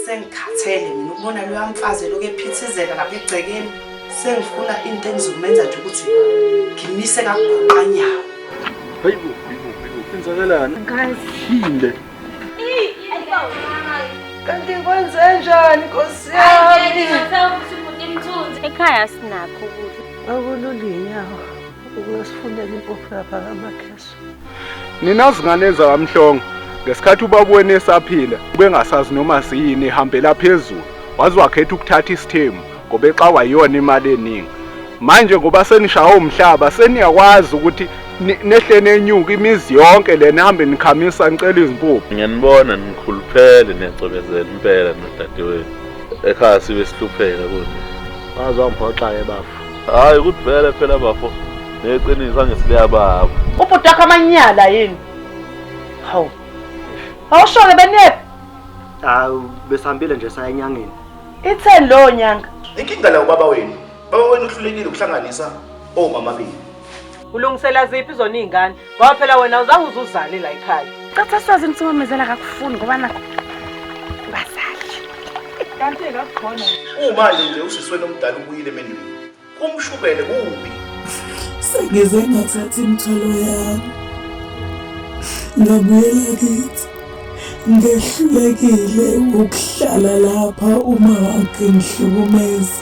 sengikhathele mina ukubona loya mfazi eloku ephithizela lapha egcekeni sengifuna into engizomenza nje ukuthi ngimise kakuguqanyawo hayibo hayibo hayibo kwenzakalani ngazile kanti kwenzenjani nkosi yami ekhaya sinakho ukudla Akululiyinyawo ukuyosifunela impuphu lapha kamakheso. Nina zingane zakamhlongo ngesikhathi ubaba wenu esaphila ubengasazi noma siyini ihambela phezulu waze wakhetha ukuthatha isithemu ngoba exawa yiyona imali eningi manje ngoba senishawa umhlaba seniyakwazi ukuthi nehle nenyuka imizi yonke le nihambe nikhamisa nicela izimpuphu ngiyanibona nikhuluphele niyacobezela impela nodadewenu ekhaya sibe sihlupheka kuthi waze wangiphoxa-ke bafo hhayi ukuthi vele phela bafo neqiniso angisileya baba ubhuti wakho amanyala yini hawu awusho-ke benephi hawu besihambile nje saya enyangeni itheni lowo nyanga inkinga la ubaba wenu baba wenu uhlulekile ukuhlanganisa omamabili Ulungisela ziphi zona iy'ngane ngoba phela wena uzange uze uzale la ekhaya. Caca sazi ukuthi umamezela kakufuni ngoba nakho bazali. Kanti kakukhona. Kumanje nje usisweni omdala ubuyile emendulo. Kumshukele kubi. Sengize ngathatha imithwalo yami. Ngabuyela kithi. Ngehlulekile ukuhlala lapha uma wakhe ngihlukumeza.